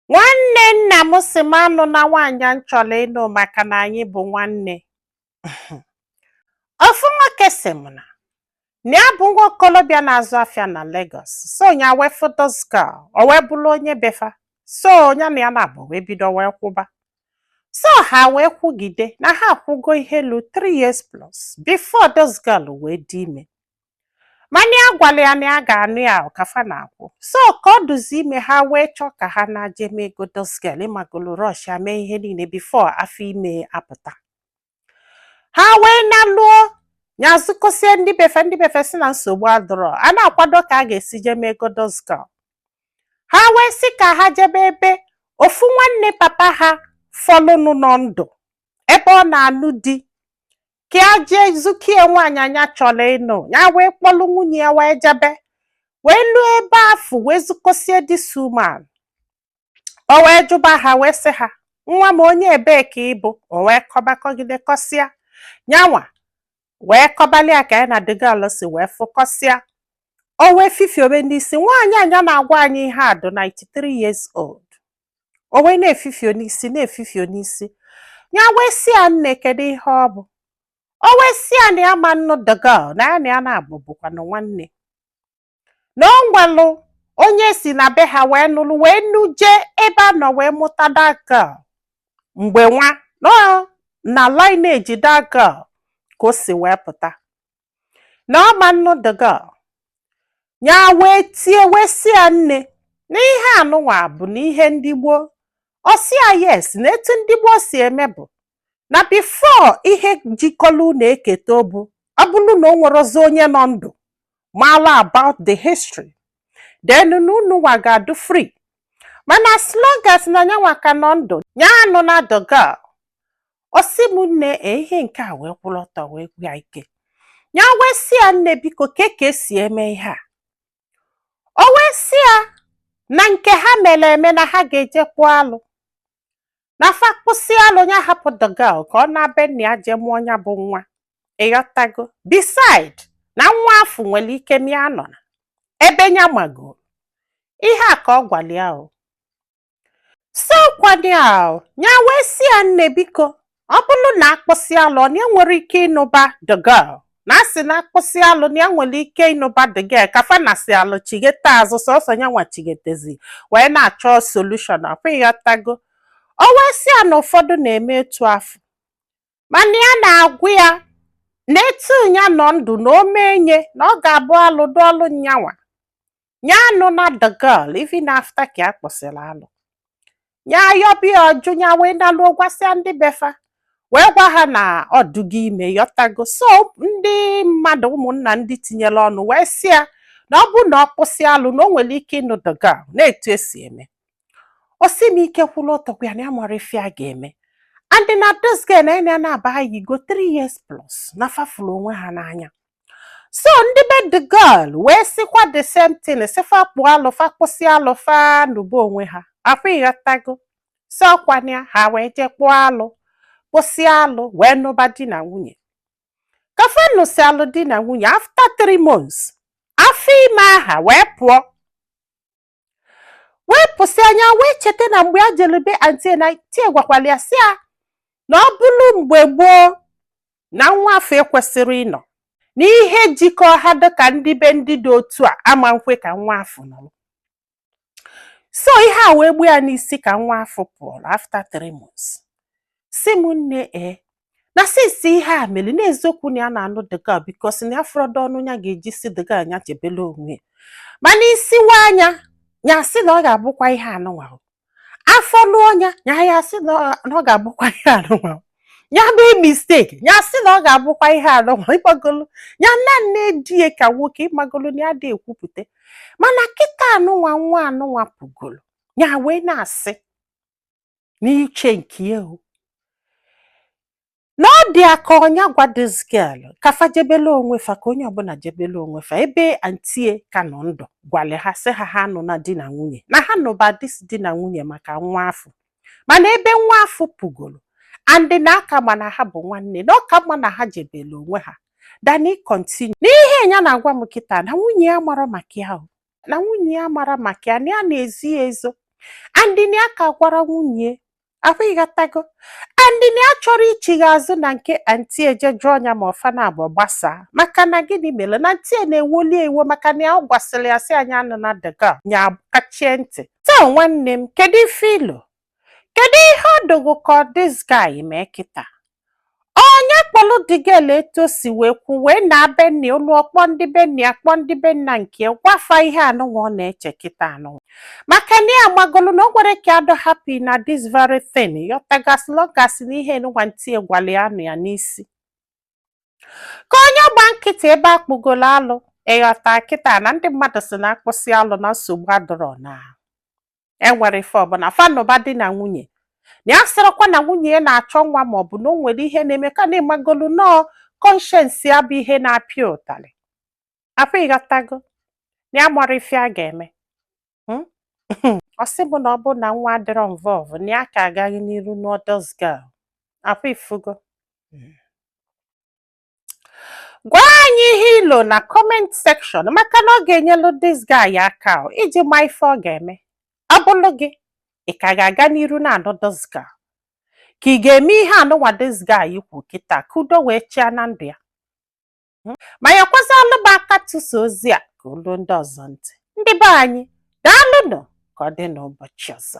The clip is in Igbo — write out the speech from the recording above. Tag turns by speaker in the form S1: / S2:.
S1: nwanne nna m si m anụna nwaanyị a m chọrọ ịnụ maka na anyị bụ nwanne ofu nwoke si m na na ya bụ nwa okolobịa na-azụ afịa na Lagos so ya wee fụ this girl o wee bụrụ onye befa so ya na ya naabọ wee bido wee kwụba so ha wee kwụgide na ha akwụgo ihe lu 3 years plus before this girl wee dị ime mana ya gwara ya na ya ga-anụ ya ka fa na-akwụ so ka ọ dụzi ime ha wee chọọ ka ha na-aje mee ego this girl ịmagolo rush ya mee ihe niile before afọ ime apụta ha wee naluo ya zụkọsie ndị befe ndị befe si na nsogbu adịrọ a na-akwado ka a ga-esi jee mee ego this girl ha wee sị ka ha jebe ebe ofu nwanne papa ha fọlụnụ nọ ndụ ebe ọ na-anụ di ka ya jee zukie nwaanyị nya chọrọ ịnụ ya wee kpọlụ nwunye ya wee jebe wee luo ebe afụ wee zukọsie this woman o wee jụba ha wee sị ha nwa m onye ebee ka ị bụ o wee kọbakọgide kọsịa nyanwa wee kọbalị ya ka ya na the girl si wee fụkọsịa o wee fifiobe n'isi nwaanyị a nya na-agwa anyị ihe a dị 93 years old o wee na-efifio n'isi na-efifio n'isi ya wee si ya nne kedu ihe ọ bụ o wee si ya na ya ma nnụ the girl na ya na ya naabọ bụkwanụ nwanne na o nwelụ onye si na be ha wee nụrụ wee nụje ebe a nọ wee mụta that girl mgbe nwa nọ na lineage that girl ka o si wee pụta na ọ ma nnụ the girl ya wee tie wee si ya nne na ihe anụnwa bụ na ihe ndị gboo ọ sị ya yes na etu ndị gboo si eme bụ na before ihe jikọrọ unu eketa obu ọ bụrụ na o nwerozi onye nọ ndụ mara about the history then na unu nwa ga-adụ free mana as long as na nyanwa ka nọ ndụ ya anụna the girl ọ sị m nne ee ihe nke a wee kwụrụ ọtọ wee gwụ ya ike ya wee sị ya nne biko kee ka e si eme ihe a o wee sị ya na nke ha mere eme na ha ga-eje kpụọ alụ na fa kpụsịa alụ ya hapụ the girl ka ọ naa be nna ya jee mụọ ya bụ nwa ịghọtago beside na nwa afụ nwere ike mịa nọ na ebe ya magoro ihe a ka ọ gwara ya o sokwadị ahụ ya wee si ya nne biko ọ bụrụ na a kpụsịa alụ na ya nwere ike ịnụba the girl na a sị na a kpụsịa alụ na ya nwere ike ịnụba the girl ka fa nasịalụ chighete azụ sọsọ ya nwa chighetezi wee na-achọ solution ọkwa ịghọtago o wee si ya na ụfọdụ na-eme etu afụ mana ya na-agwa ya na etu ya nọ ndụ na o mee nye na ọ ga-abụ alụ dụ ọlụ nyanwa ya anụna the girl even after ka a kpụsịrị alụ ya yọba ya ọ jụ ya wee nalụọ gwasịa ndị be fa wee gwa ha na ọ dụgo ime ịghọtago so ndị mmadụ ụmụnna ndị tinyere ọnụ wee sị ya na ọ bụ na ọ kpụsịa alụ na o nwere ike ịnụ the girl na etu e si eme ọ sị m ike kwụla ọtọkwa ya na ya amarọ ife a ga-eme and na this girl na ya naabọ ha yigo 3 years plus na fa fụrụ onwe ha n'anya so ndị be the girl wee sịkwa the same thing sị fa kpụọ alụ fa kpụsịa alụ fa nụba onwe ha ọkwa ịghọtago so ọkwa nya ha wee jee kpụọ alụ kpụsịa alụ wee nụba di na nwunye ka fa nụsịalụ di na nwunye after 3 months afọ ime ahụ wee pụọ wee pụsịa nya wee cheta na mgbe a jere be aunty ya na aunty ya gwakwara ya sị ya na ọ bụrụ mgbe gboo na nwa afụ ekwesịrọ ịnọ na ihe jikọ ha dịka ndị be ndị dị otu a ama nkwe ka nwa afụ nọrọ so ihe a wee gbuo ya n'isi ka nwa afụ pụrụ after three months sị m nne e na since ihe a mere n'eziokwu na ya na-anụ the girl because na ya afụrọdụ ọnụ ya ga-eji sị the girl nya jebele onwe ya mana isi wa nya ya sị na ọ ga-abụkwa ihe anụnwa afọ lụọ ya ya sị na ọ ga-abụkwa ihe anụnwa ya mee mistake ya sị na ọ ga-abụkwa ihe anụnwa ịmagolu ya na-edi ya ka nwoke ịmagolu na ya adị ekwupụta mana kịta anụnwa nwa anụnwa pụgolo ya wee na-asị n'uche nke ya o na ọ dị ya ka ọ nya gwa this girl ka fa jebele onwe fa ka onye ọbụla jebele onwe fa ebe aunty ya ka nọ ndụ gwale ha sị ha ha anụna di na nwunye na ha nụba dis di na nwunye maka nwa afụ mana ebe nwa afụ pụgoro and na a ka ma na ha bụ nwanne na ọ ka mma na ha jebele onwe ha than ị continue n'ihe ya na-agwa m kịta na nwunye ya amarọ maka ya o na nwunye ya amarọ maka ya na ya na-ezo ya ezo and na ya aka agwarọ nwunye ahụ ịghọtago and na ya chọrọ ichigha azụ na nke aunty ya jee jụọ nya ma ọ fa naabọ gbasaa maka na gịnị mere na aunty ya na-ewoli ya iwe maka na ya gwasịrị ya sị nya anụna the girl nya kachie ntị taa nwanne m kedu ife i lo kedu ihe ọ dụ gị ka ọ this guy mee kịta ọ nya kpọlụ the girl etu o si wee kwu wee naa be nne ya lụọ kpọọ ndị be nne ya kpọọ ndị be nna nke ya gwa fa ihe anụnwa ọ na-eche kịta anụnwa maka na ya ịmagolu na o nwerọ ka ya dụ happy na this very thing ịghọtago so long as na ihe anụnwa aunty ya gwalị ya nọ ya n'isi ka ọ nya gba nkịtị ebe a kpụgolo alụ ịghọta kịta na ndị mmadụ sị na a kpụsịa alụ na nsogbu adụrọ na enwere ife ọbụla fa nụba di na nwunye na ya sịrọkwa na nwunye ya na-achọ nwa ma ọ bụ na o nwere ihe na-eme ka na ị magolu nọọ kọnshens ya bụ ihe na-apịa ụtalị afụ ịghọtago na ya mara ife a ga-eme hmm? ọ sị mụ na ọ bụ na nwa adịrọ involve na ya ka agaghị n'iru nụọ dis gal afụ ifugo hmm. gwa anyị ihe i lo na kọment sekshọn maka na ọ ga-enyelu dis guy aka o, iji ma ife ọ ga-eme ọ bụrụ gị ị ka ga-aga n'iru na-anụ dis gal ka ị ga-eme ihe anụnwa dis guy kwu kịta ka udo wee chịa na ndụ ya Mm. ma nyekwazịalụ m aka tụsa ozi a ka o lu ndị ọzọ ntị ndị be anyị daalụnụ ka ọ dị n'ụbọchị ọzọ